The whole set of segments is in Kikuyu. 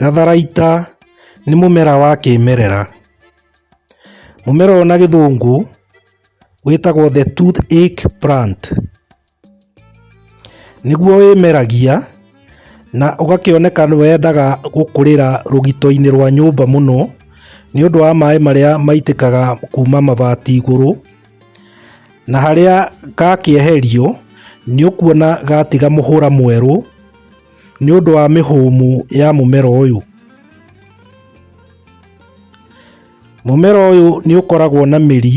Gatharaita nĩ mũmera wa kĩmerera. Mũmera ũyũ na gĩthũngũ wĩtagwo the tooth ache plant. Nĩguo wĩmeragia na ũgakĩoneka nĩ wendaga gũkũrĩra rũgito-inĩ rwa nyũmba mũno nĩ ũndũ wa maĩ marĩa maitĩkaga kuma mabati igũrũ. Na harĩa gakĩeherio, nĩũkuona gatiga mũhũra mwerũ nĩ ũndũ wa mĩhũmũ ya mũmera ũyũ. Mũmera ũyũ nĩ ũkoragwo na mĩri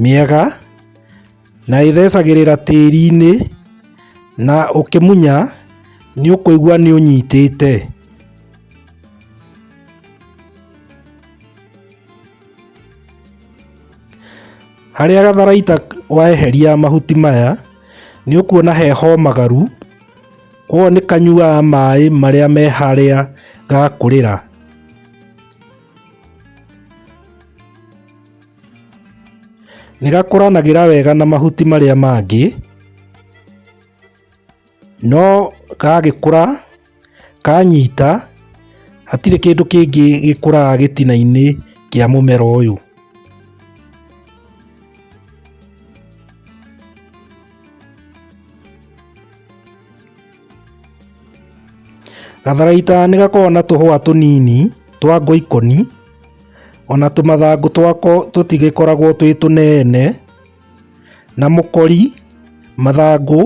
mĩega na ĩthecagĩrĩra tĩri-inĩ na ũkĩmunya nĩ ũkũigua nĩ ũnyitĩte. Harĩa gatharaita weheria mahuti maya, nĩ ũkuona he homagaru, koguo nĩ kanyuaga maĩ marĩa me harĩa gakũrĩra. Nĩ gakũranagĩra wega na mahuti marĩa mangĩ. no gagĩkũra kanyita hatirĩ kĩndũ kĩngĩ gĩkũraga gĩtina-inĩ kĩa mũmera ũyũ. Gatharaita nĩ gakoragwo na tũhũa tũnini twa ngoikoni, ona tũmathangũ twako tũtigĩkoragwo twĩ tũnene. Na mũkori, mathangũ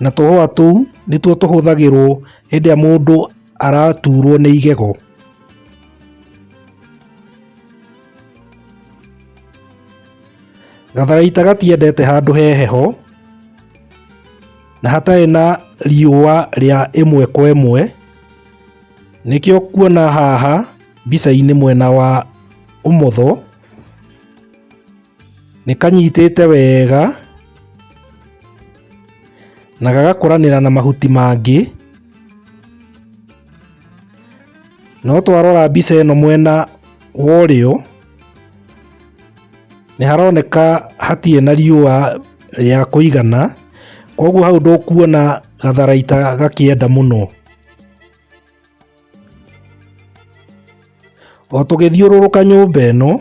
na tũhũa tũu nĩtuo tũhũthagĩrwo hĩndĩ ĩrĩa mũndũ araturwo nĩ igego. Gatharaita gatiendete handũ he heho na hatarĩ na riũa rĩa ĩmwe kwa ĩmwe, nĩkĩo ũkuona haha mbica-inĩ mwena wa ũmotho. Nĩ kanyitĩte wega na gagakũranĩra na mahuti mangĩ. No twarora mbica ĩno mwena wa ũrĩo, nĩ haroneka hatirĩ na riũa rĩa kũigana, koguo hau ndũkuona gatharaita gakĩenda mũno. O tũgĩthiũrũrũka nyũmba ĩno,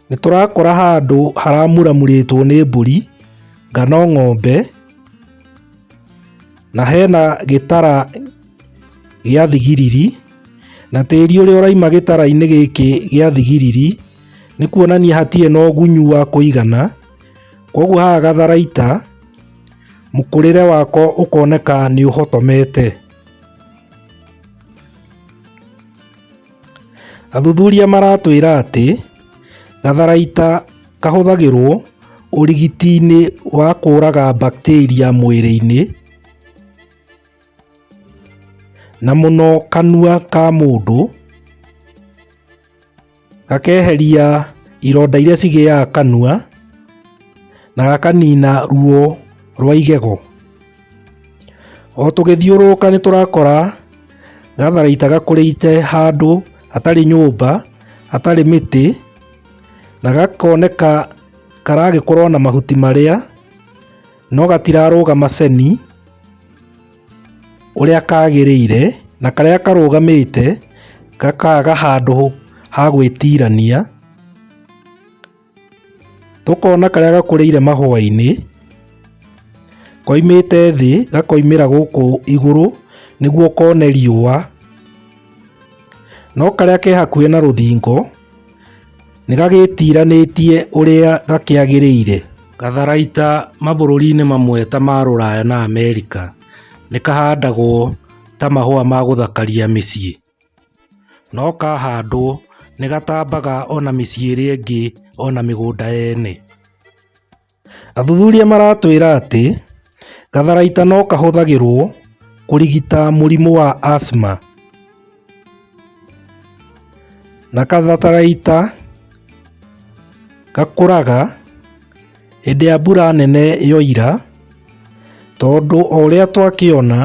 Nĩ tũrakora handũ haramuramurĩtwo nĩ mbũri kana ng'ombe, na hena gĩtara gĩa thigiriri, na tĩri ũrĩa ũrauma gĩtara-inĩ gĩkĩ gĩa thigiriri, nĩ kuonania hatirĩ na ũgunyu wa kũigana, koguo haha gatharaita mũkũrĩre wako ũkoneka nĩ ũhotomete. Athuthuria maratwĩra atĩ gatharaita kahũthagĩrwo ũrigiti-inĩ wa kũraga bacteria mwĩrĩ-inĩ na mũno kanua ka mũndũ, gakeheria ironda iria cigĩaga kanua na gakanina ruo rwa igego. O tũgĩthiũrũrũka nĩ tũrakora gatharaita gakũrĩte handũ hatarĩ nyũmba, hatarĩ mĩtĩ, na gakoneka karagĩkorwo na mahuti marĩa, no gatirarũga maceni ũrĩa kagĩrĩire, na karĩa karũgamĩte gakaga handũ ha gwĩtirania. tũkona karĩa gakũrĩire mahũa-inĩ koimĩte thĩ gakoimĩra gũkũ igũrũ nĩguo kone riũa no karĩa ke hakuhĩ na rũthingo nĩ gagĩtiranĩtie ũrĩa gakĩagĩrĩire. Gatharaita mabũrũri-inĩ mamwe ta ma Rũraya na Amerika nĩ kahandagwo ta mahũa ma gũthakaria mĩciĩ. No kahandwo nĩ gatambaga ona mĩciĩ ĩrĩa ĩngĩ ona mĩgũnda ene. Athuthuria maratwĩra atĩ gatharaita no kahũthagĩrwo kũrigita mũrimũ wa asthma. Na katharaita gakũraga... Hĩndĩ ya mbura nene yoira, tondũ o ũrĩa twakĩona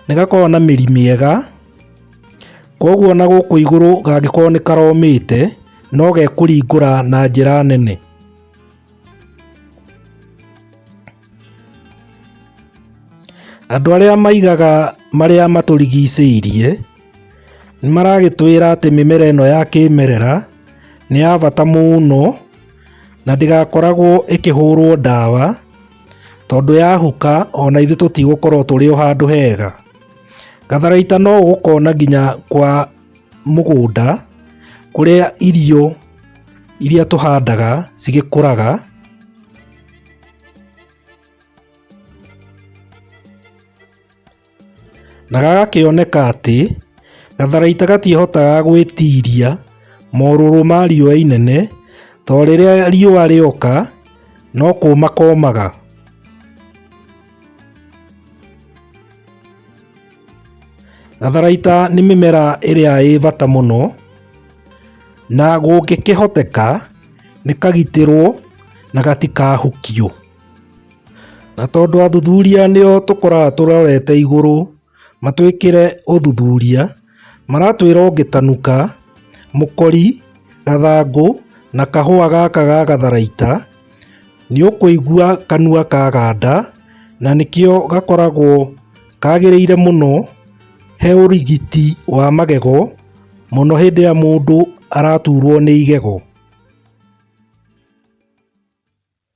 nĩ gakoragwo na mĩri mĩega, koguo na gũkũ igũrũ gangĩkorwo nĩ karomĩte no gekũringũra na njĩra nene. Andũ arĩa maigaga marĩa matũrigicĩirie nĩ maragĩtwĩra atĩ mĩmera ĩno ya kĩmerera nĩ ya bata mũno. na ndĩgakoragwo ĩkĩhũrwo ndawa, tondũ yahuka ona ithuĩ tũtigũkorwo tũrĩ o handũ hega. Gatharaita no ũgũkona nginya kwa mũgũnda kũrĩa irio iria tũhandaga cigĩkũraga. Na gagakĩoneka atĩ gatharaita gatiĩhotaga gwĩtiria morũrũ ma riũa inene tondũ rĩrĩa riũa rĩoka no kũũma koomaga. Gatharaita nĩ mĩmera ĩrĩa ĩĩ bata mũno na gũngĩkĩhoteka nĩ kagitĩrwo na gatikahukio. Na tondũ athuthuria nĩo tũkoraga tũrorete igũrũ matwĩkĩre ũthuthuria, maratwĩra ũngĩtanuka mũkori, gathangũ na kahũa gaka ga gatharaita nĩũkũigua kanua kaganda na nĩkĩo gakoragwo kagĩrĩire mũno he ũrigiti wa magego mũno hĩndĩ ĩrĩa mũndũ araturwo nĩ igego.